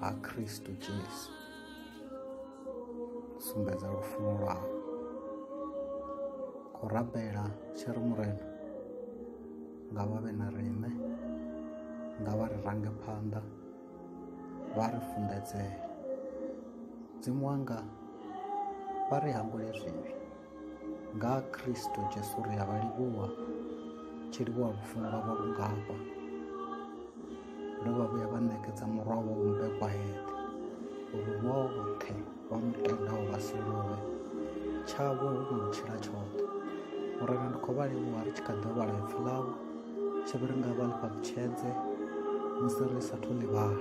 ha khristu jesu sumbedza lufuno lwau khou rabela tshi ri murena nga vha vhe na riṋe nga vha ri range phanḓa vha ri funḓedzee dzimu wanga vha ri hangule zwivhi nga ha Kristo Jesu ri a vha livhuwa tshi livhuwa lufuno lwavho lungafha ndo vha vhuya vha ṋekedza murwa wo mumbekwa heṱhe uri vhoṱhe vha mutendaho vha si lovhe tshavho hu no tshila tshoṱhe uri ndi khou vha livhuwa ri tshi kha ḓi vhala ipfi ḽavho tshi vhi ri nga vha ḽifha kutshedze musi ri sa thu ḽivhala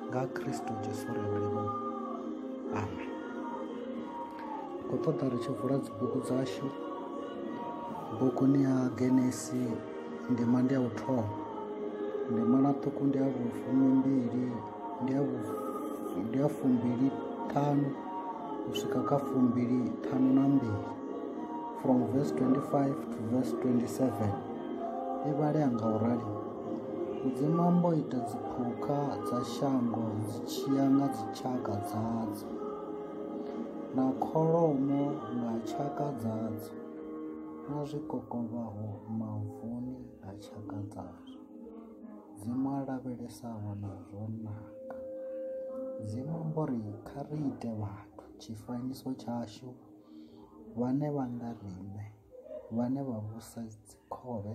nga Kristo Jesu ri a vha livhuwa amen khou ṱoḓa ri tshi vula dzibugu dzashu buguni ya genesi ndima ndi ya u thoma ndima na ṱuku ndi ya vhufumi mbili ndi ya ndi ya fumbili ṱhanu u swika kha fumbili ṱhanu na mbili from verse 25 to verse 27 i vhalea nga u rali mudzimu ambo ita dziphukha dza shango dzi tshiya nga dzitshaka dzadzo na kholomo nga tshaka dzadzo, na zwikokovhaho mavuni nga tshaka dzazwo, Mudzimu a lavhelesaho na zwo naka. Mudzimu amba uri kha ri ite vhathu tshifanyiso tshashu vhane vha nga riṋe, vhane vha vhusa dzikhovhe,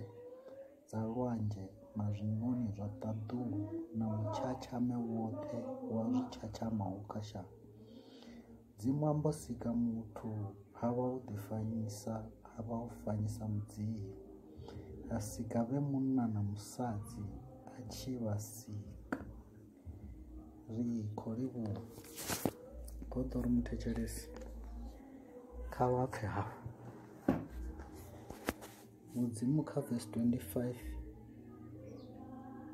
dza lwanzhe na zwiṋoni zwa ṱaḓulu na mutshatshame woṱhe wa zwi tshatshamaho kha shango dzi mwambo sika muthu ha vha u ḓifanyisa ha vha u fanyisa mudzimu a sika vhe munna na musadzi a tshi vha sika ri khou livhuwa khou ḓo ri muthetshelesi kha vha pfhe hafhu mudzimu kha vesi 25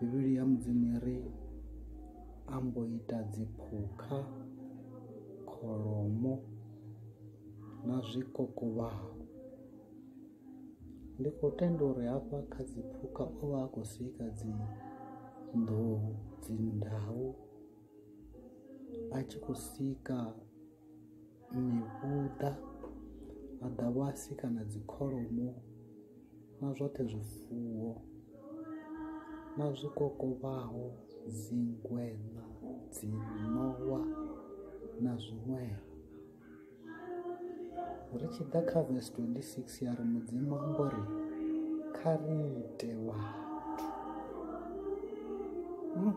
bivhili ya mudzimu i ri a mbo ita dziphukha kholomo na zwikokovhaho ndi khou tenda uri hafha kha dziphukha o vha a khou sika dzi nḓou dzi ndau a tshi khou sika mihuḓa maḓavhasi kana dzi kholomo na zwoṱhe zwifuwo na zwikokovhaho dzingweṋa dzi ṋowa na zwiṅwevho ri tshi ḓa kha vhs 26 ya ri mudzimu ambo ri kha ri ite vhathu hmm.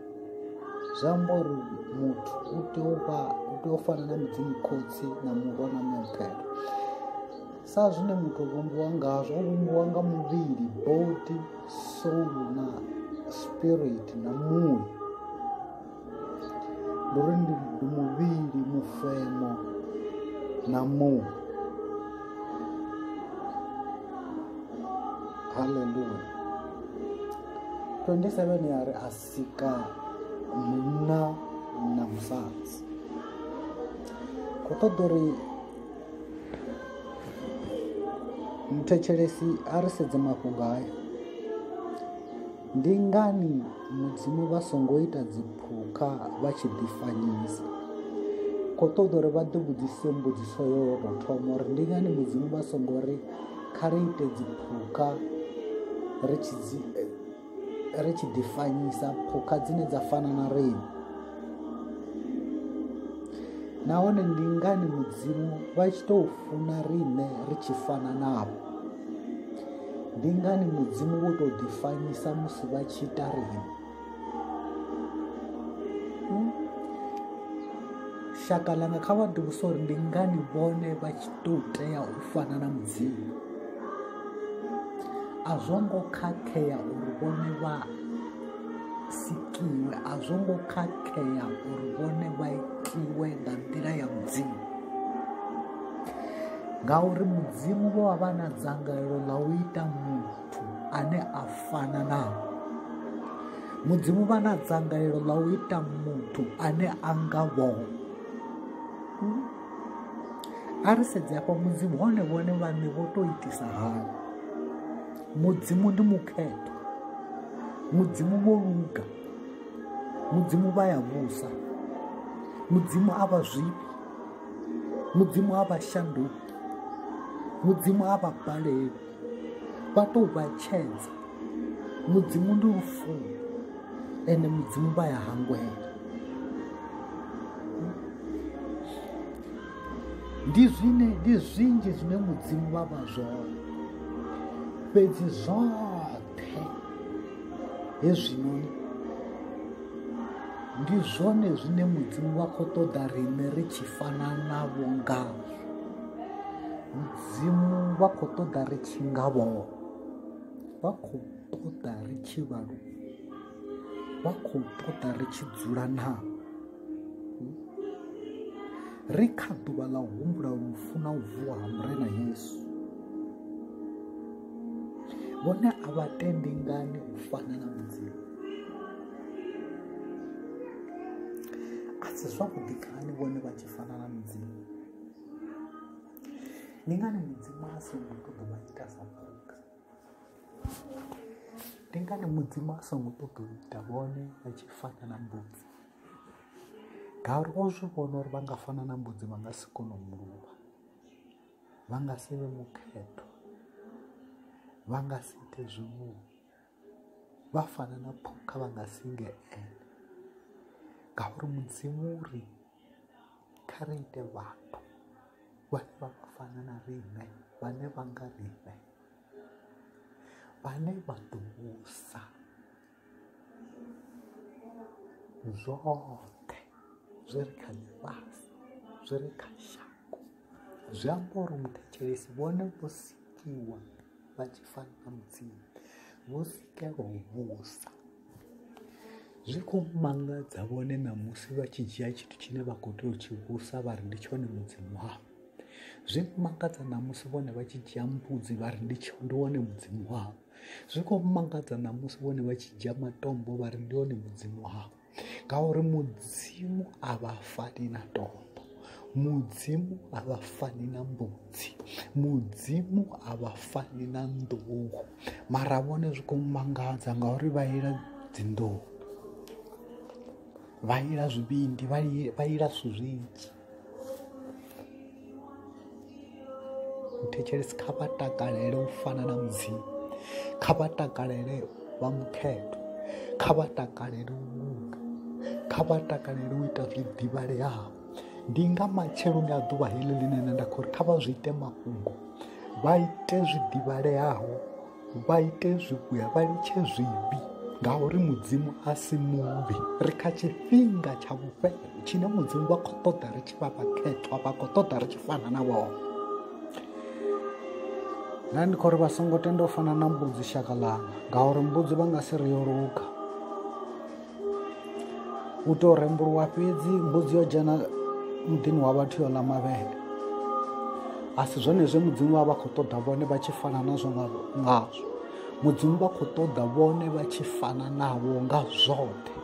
zvaambori muthu u tea u vha u tea u fana na mudzimu khotsi na murwa na mupelo sa zwine muthu o vhumbiwa ngazwo o vhumbiwa nga muvhili body soul na spirit na muya ndi uri ndi muvhili mufemo na muya haleluya 27 ya ri a sika munna na musadzi khou ṱoḓa uri muthetshelesi a ri sedze mafhungo haya ndi ngani mudzimu vha songo ita dziphukha vha tshi ḓifanyisa khou ṱoḓa uri vha ḓi vhudzise mbudziso yo tou thoma uri ndi ngani mudzimu vha songo ri kha ri ite dzi phukha ri tshi dzi ri tshi ḓifanyisa phukha dzine dza fana na riṋe nahone ndi ngani mudzimu vha tshi tou funa riṋe ri tshi fana navho ndi ngani mudzimu wo tou ḓifanyisa musi vha tshi ita riṋe Hmm? shaka langa kha vha ḓivhusa uri ndi ngani vhone vha tshi ḓo tea u fana na mudzimu a zwo ngo khakhea uri vhone vha sikiwe a zwo ngo khakhea uri vhone vha itiwe nga nḓila ya mudzimu ngauri mudzimu vho vha vha na dzangalelo ḽa u ita muthu ane a fana na mudzimu vha na dzangalelo ḽa u ita muthu ane a nga vho hmm? a ri sedze afha mudzimu hone vhone vhaṋe vho tou itisa hani mudzimu ndi mukhetho mudzimu vho luga mudzimu vha ya vhusa mudzimu a vha zwifhi mudzimu a vha shanduki mudzimu a vha baleli vha tou vha tshedza mudzimu ndi lufuno ende mudzimu vha ya hangwela ndi zwine ndi zwinzhi zwine mudzimu vha vha zwone fhedzi zwoṱhe hezwinoni ndi zwone zwine mudzimu vha khou ṱoḓa riṋe ri tshi fana navho ngazwo vhadzimu vha khou ṱoḓa ri tshi nga vho vha khou ṱoḓa ri tshi vha lu vha khou ṱoḓa ri tshi dzula naa ri kha ḓuvha ḽa humbula lufu na u vuwa ha murena yesu vhone a vha tendi ngani u fana na mudzimu a si zwavhuḓi kani vhone vha tshi fana na mudzimu ndi ngani mudzimu a songo ṱoḓa vha ita sa muka ndi ngani mudzimu a songo ṱoḓa u ita vhone vha tshi fana na mbudzi ngauri o zwi vhona uri vha nga fana na mbudzi vha nga si kone u muluvha vha nga si vhe mukhetho vha nga si ite zwimuo vha fana na phukha vha nga si nge ene ngauri mudzimu uri kha ri ite vhathu vhane vha vha fana na riṋe vhane vha nga riṋe vhane vha ḓo vhusa zwoṱhe zwi re kha ḽifhasi zwi re kha shango zwi amba uri muthetshelesi vhone vho sikiwa vha tshi fana na mudzimu vho sikelwa u vhusa zwi khou mangadza vhone ṋamusi vha tshi dzhia tshithu tshine vha khou tea u tshi vhusa vha ri ndi tshone mudzimu wavho zwi mangadza ṋamusi vhone vha tshi dzhia mbudzi vha ri ndi ndi wone mudzimu wavho zwi khou mangadza ṋamusi vhone vha tshi dzhia matombo vha ri ndi wone mudzimu wavho ngauri mudzimu a vha fani na tombo mudzimu a vha fani na mbudzi mudzimu a vha fani na nḓuhu mara vhone zwi khou mangadza ngauri vha ila dzinḓuhu vha ila zwivhindi vha ila zwithu zwinzhi thetshelesi kha vha takalele u fana na mudzimu kha vha takalele vha mukhetho kha vha takalele u luga kha vha takalele u ita zwi ḓivhaleaho ndi nga matsheloni a ḓuvha heḽi ḽine nṋe nda khou ri kha vha zwi ite mafhungo vha ite zwi ḓivhaleaho vha ite zwivhuya vha litshe zwivhi ngauri mudzimu a si muvhi ri kha tshifhinga tsha vhufhelo tshine mudzimu vha khou ṱoḓa ri tshi vha vhakhethwa vha khou ṱoḓa ri tshi fana na vhoo na ndi khou ri vha songo tenda u fana na mbudzi shaka ḽanga ngauri mbudzi vha nga si ri yo luga hu tou rembuluwa fhedzi mbudzi yo dzhena muḓini wa vhathu yo ḽa mavhele a si zwone zwe mudzimu vha vha khou ṱoḓa vhone vha tshi fana nazwo ngazwo mudzimu vha khou ṱoḓa vhone vha tshi fana navho nga zwoṱhe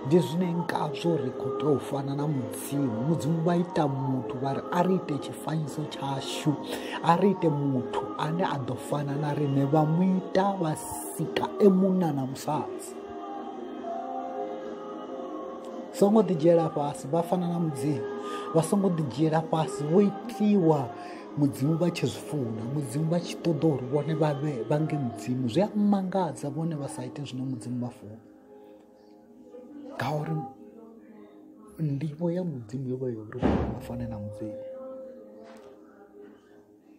ndi zwine ngazwo ri khou tea u fana na mudzimu mudzimu vha ita muthu vha ri a ri ite tshifanyiso tshashu a ri ite muthu ane a ḓo fana na riṋe vha mu ita vha sika e munna na musadzi songo ḓi dzhiela fhasi vha fana na mudzimu vha songo ḓi dzhiela fhasi vho itiwa mudzimu vha tshi zwi funa mudzimu vha tshi ṱoḓa uri vhone vha vhe vha nge mudzimu zwi a mangadza vhone vha sa ite zwine mudzimu vha funa ngauri ndivho ya mudzimu yo vha yo uri vha fane na mudzimu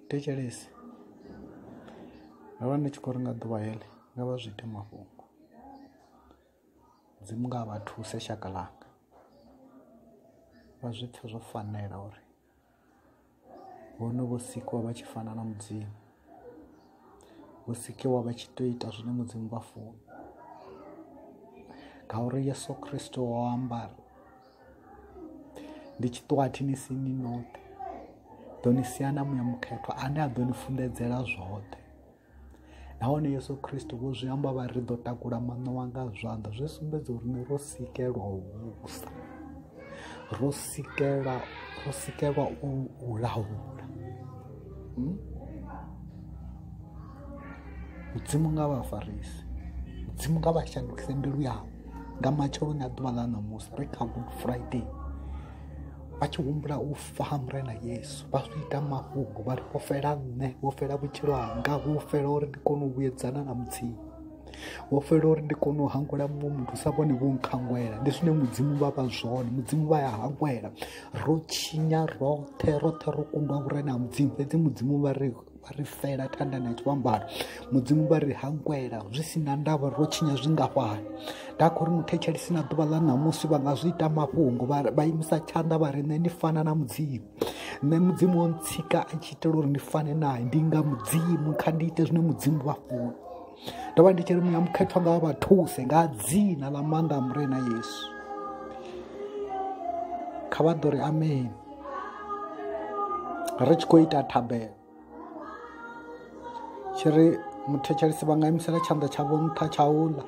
thetshelesi ndo vha ndi tshi khou ri nga ḓuvha heḽi nga vha zwi ite mafhungo mudzimu nga vha thuse shaka langa vha zwi pfhe zwo fanela uri vhone vho sikiwa vha tshi fana na mudzimu vho sikiwa vha tshi to ita zwine mudzimu vha funa ngauri yesu kristo o ambara ndi tshiṱwathi ni si ni noṱhe ḓo ni sia na muya mukhethwa ane a ḓo ni funḓedzela zwoṱhe nahone yesu kristo vho zwi amba vha ri ḓo takula maṋowa nga zwanḓa zwi sumbedza uri ni ro sikelwa u vhusa ro sikela ro sikelwa u laula hmm? mudzimu nga vha farisi mudzimu nga vha shandukise mbilu yavho nga matsheloni a ḓuvha ḽa ṋamusi ri kha good friday vha tshi humbula u fa mure na yesu vha zwi ita mafhungo vha ri vho fela nṋe vho fela vhutshilo hanga vho fela uri ndi kone u vhuyedzana na mudzimu vho fela uri ndi kone u hangwela muṅwe muthu sa vhone vho nkhangwela ndi zwine mudzimu vha vha zwone mudzimu vha ya hangwela ro tshinya roṱhe roṱhe ro kundwa vhurena ha mudzimu fhedzi mudzimu vha ri vha ri fela tandani a tshivhambano mudzimu vha ri hangwela zwi si na ndavha ro tshinya zwingafhani nda khou ri mu thetshelisi na ḓuvha ḽa ṋamusi vha nga zwi ita mafhungo vha imisa tshanḓa vha ri nṋe ni fana na mudzimu nṋe mudzimu wo ntsika a tshi itela uri ndi fane naye ndi nga mudzimu kha ndi ite zwine mudzimu vha funa ndo vha ndi tshi ri muya mukhethwa nga vha thuse nga dzina ḽa maanḓa a murena yesu kha vha ḓo ri amen ri tshi khou ita thabelo tshi ri muthetshelesi vha nga imisela tshanḓa tshavho nṱha tsha uḽa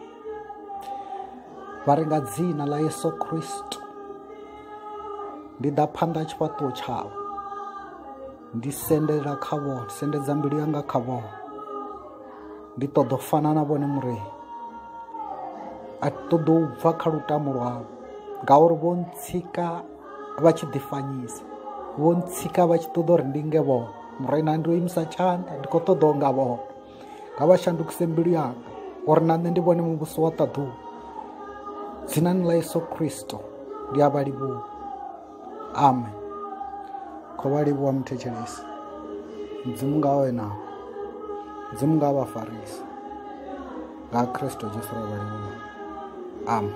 vha ri nga dzina ḽa yesu kristu ndi ḓa phanḓa tshifhaṱuwo tshawe ndi sendela kha vho ndi sendedza mbilu yanga kha vho ndi ṱoḓa u fana na vhone mureyi a ṱoḓa u bva kha lutamo lwavho ngauri vho ntsika vha tshi ḓifanyisa vho ntsika vha tshi ṱoḓa uri ndi nge vhone mureina ndi o imisa tshanḓa ndi khou ṱoḓa u nga vhone nga vha shandukise mbilu yanga uri na nṋe ndi vhone muvhuso wa ṱaḓuwa dzinani ḽa yesu kristo ndi a vha livhuwa amen kho vha livhuwa muthetshelesi mudzimu nga wena mudzimu nga vha farisi nga kristo jesu ra vha livhuwa amen